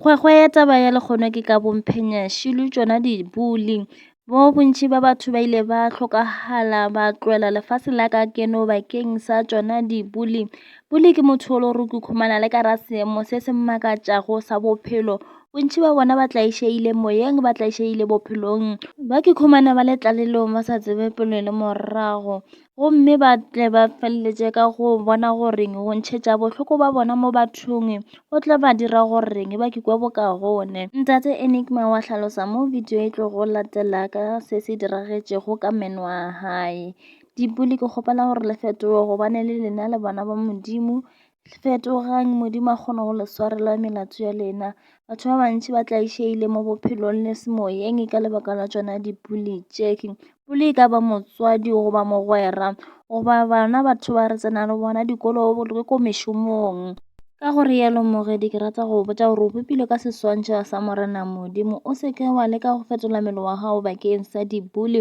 Kgwekgwe ya taba ya lekgono ke ka bomphenya šilu tšona di buli bo bontši ba batho ba ile ba hlokagala ba tloela lefase la ka keno bakeng sa tšona di buli buli ke motho o lo re kukhumana le ka ra seemo se se mmakatšago sa bophelo bontši ba bona ba tlaišegile moyeng ba tlaišegile bophelong ba ke khumana ba le tlalelong ba sa tsebe pele le morago gomme ba tle ba feleletše ka go bona goreng go ntšhetša bohloko ba bona mo bathong go tla ba dira goreng ba kikwe bokaone. Ntate Enigma wa hlalosa mo video e tlogo latela ka se se diragetšego ka meno a hae. Dipuli ke kgopela gore le fetoge gobane le lena le bana ba Modimo Fetogang, Modimo a kgona go le swarela melato ya lena. Batho ba bantši ba tlaišegile mo bophelong le semoyeng ka lebaka la tšona dipuli tše. Puli e ka ba motswadi goba mogwera goba bana batho ba re tsenang le bona dikolo le ko mešomong. Ka go realo morwedi ke rata go botša gore o bopilwe ka seswantšho sa Morena Modimo. O se ke wa leka go fetola mmele wa gago bakeng sa dipuli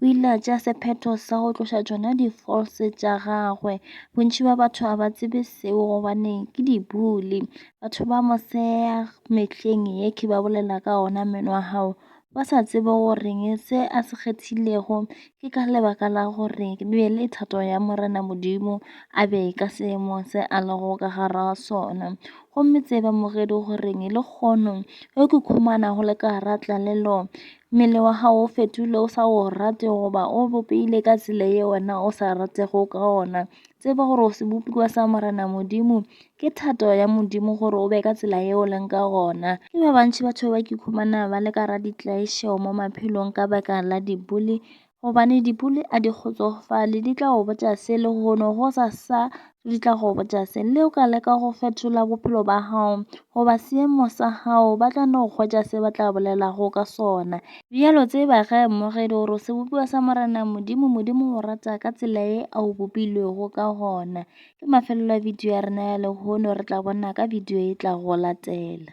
O ile a tšea sephetho sa go tloša tšona di-false tša gagwe. Bontši bja batho ga ba tsebe seo gobane ke dibuli. Batho ba mosela mehleng ye ke ba bolela ka ona meno a hao, ba sa tsebe goreng se a se kgethilego ke ka lebaka la gore e be le thato ya Morena Modimo a be ka seemo se a lego ka gare ga sona. Gomme tseba moredi goreng lehono ge o khukhumala go le ka gare ga tlalelo Mmele wa gago o fetogile o sa o rate goba o bopehile ka tsela ye wena o sa ratego ka ona. Tseba gore o sebopiwa sa Morena Modimo, ke thato ya Modimo gore o be ka tsela ye o leng ka gona. Ke ba bantši batho ba ke ikhumana ba le ka ga ditlaišo mo maphelong ka baka la diboli gobane dipudi a di kgotsofale di tla go botša se le hono go sa sa di tla go botša se le o ka leka go fetola bophelo ba hao goba seemo sa hao ba tla no kgwetša se ba tla bolela go ka sona bjalo tseba ge mmogedi gore se bopiwa sa morena modimo modimo o rata ka tsela e a o bopilwego ka gona ke mafelelo a video ya rena ya le hono re tla bona ka video e tla go latela